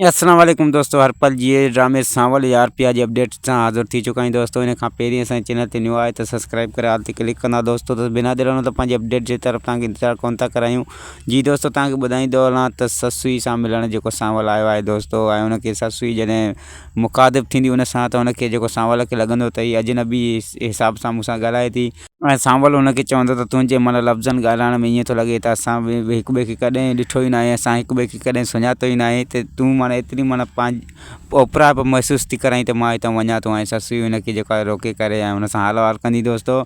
السلام عليڪم دوستو هر پل جي ڊرامي سانول يا آر پي آر جي اپڊيٽ سان حاضر ٿي چڪا آهيون دوستو ان کان پهرين اسان چينل تي نيو آهي ته سبسڪرائب ڪري آل تي ڪلڪ ڪندا دوستو ته بنا دير هلون ته پنهنجي اپڊيٽ جي طرف تان انتظار ڪون ٿا ڪرايون جي دوستو تان کي ٻڌائيندو هلان ته سسوي سان ملڻ جيڪو سانول آيو آهي دوستو ۽ ان کي سسوي جڏهن مخاطب ٿيندي ان سان ته ان کي جيڪو سانول کي لڳندو ته هي اجنبي حساب سان مون سان ڳالهائي ٿي ۽ سانول هن کي چوندو ته تنهنجي مئل لفظن ڳالهائڻ ۾ ائين ٿو لڳي ته اسان هڪ ٻئي کي ڪڏهن ڏٺو ئي ناهي اسان هڪ ٻئي کي ڪڏهن سڃاتو ئي ناهي ته تون معني ايتري معني پنهنجي اوپرائپ محسوس ٿي ڪرائين ته مان هتان وڃان ٿو ۽ سسئي هن کي جيڪو آهي روڪي ڪري ۽ هن سان هال احوال ڪندي دوستو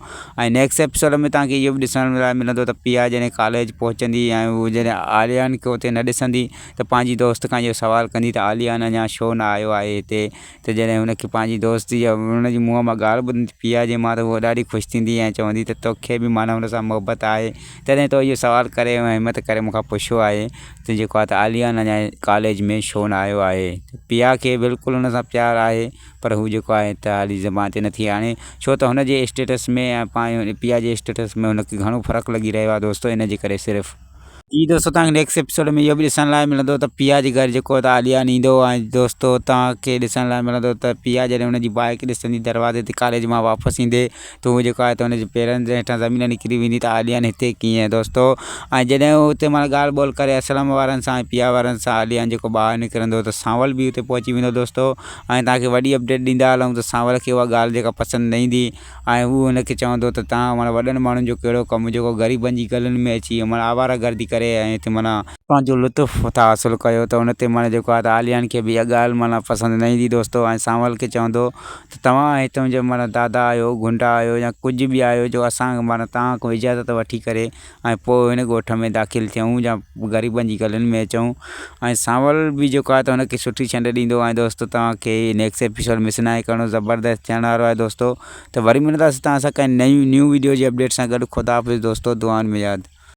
۽ نيڪسٽ ايپسوڊ ۾ تهان کي اهو به ڏسڻ لاء ملندو ته پيا جڏهن ڪاليج پهچندي ۽ هو جڏهن عاليان کي اتي نه ڏسندي ته پنهنجي دوست کان اهو سوال ڪندي ته عاليان اڃان شو نه آيو آهي هتي ته جڏهن هن کي پنهنجي دوست يا ان جي منهن مان ڳالهه ٻڌندي پيارجي مان ته هوء ڏاڍي خوش ٿيندي ۽ چوندي ته تو کي به مان هن سان محبت آهي تڏهن تو اهو سوال ڪري ۽ همت ڪري مون کان پڇيو آهي ته جيڪو آهي ته عاليان اڃا ڪاليج ۾ ڇو نه آيو آهي ته پيا کي بلڪل هن سان پيار آهي پر هو جيڪو آهي ته هالي زبان تي نٿي آڻي ڇو ته هن جي اسٽيٽس ۾ ۽ پيا جي اسٽيٽس ۾ هن کي گهڻو فرق لڳي رهيو آهي دوستو ان جي ڪري صرف جي دوستو توهان کي نيڪسٽ ايپيسوڊ ۾ اهو به ڏسڻ لاء ملندو ته پيا جي گهر جيڪو ته عاليان ايندو ۽ دوستو توهان کي ڏسڻ لاء ملندو ته پيا جڏهن ان جي بائيڪ ڏسندي دروازي تي ڪاليج مان واپس ايندي ته هو جيڪو آهي ته ان جي پيرن جي هيٺان زمين نڪري ويندي ته عاليان هتي ڪيئن دوستو ۽ جڏهن هو اتي معنيٰ ڳالهه ٻولهه ڪري اسلم وارن سان ۽ پيا وارن سان عاليان جيڪو ٻاهر نڪرندو ته سانول به اتي پهچي ويندو دوستو ۽ توهان کي وڏي اپڊيٽ ڏيندا هلون ته سانول کي اها ڳالهه جيڪا پسند نه ايندي ۽ هو هن کي چوندو ته تان معنيٰ وڏن ماڻهن جو ڪهڙو ڪم جيڪو غريبن جي گلن ۾ اچي معنيٰ آواره گردي ڪري ۽ هتي معنيٰ پنهنجو لطف ٿا حاصل ڪيو ته ان تي معنيٰ جيڪو آهي ته عاليان کي به اها ڳالهه معنيٰ پسند نه ايندي دوستو ۽ سانول کي چوندو ته توهان ۽ تنهنجو معنيٰ دادا آهيو گنڊا آهيو يا ڪجهه به آهيو جو اسان معنيٰ توهان کان اجازت وٺي ڪري ۽ پوء هن ڳوٺ ۾ داخل ٿيون يا غريبن جي گلين ۾ اچون ۽ سانول به جيڪو آهي ته هن کي سٺي ڇنڊ ڏيندو ۽ دوستو توهان کي نيڪس ايپيسوڊ مس ناهي ڪرڻو زبردست ٿيڻ وارو آهي دوستو ته وري ملنداسين توهان سان ڪنهن نئين نيو ويڊيو جي اپڊيٽ سان گڏ خدا حافظ دوستو دعائن ۾ ياد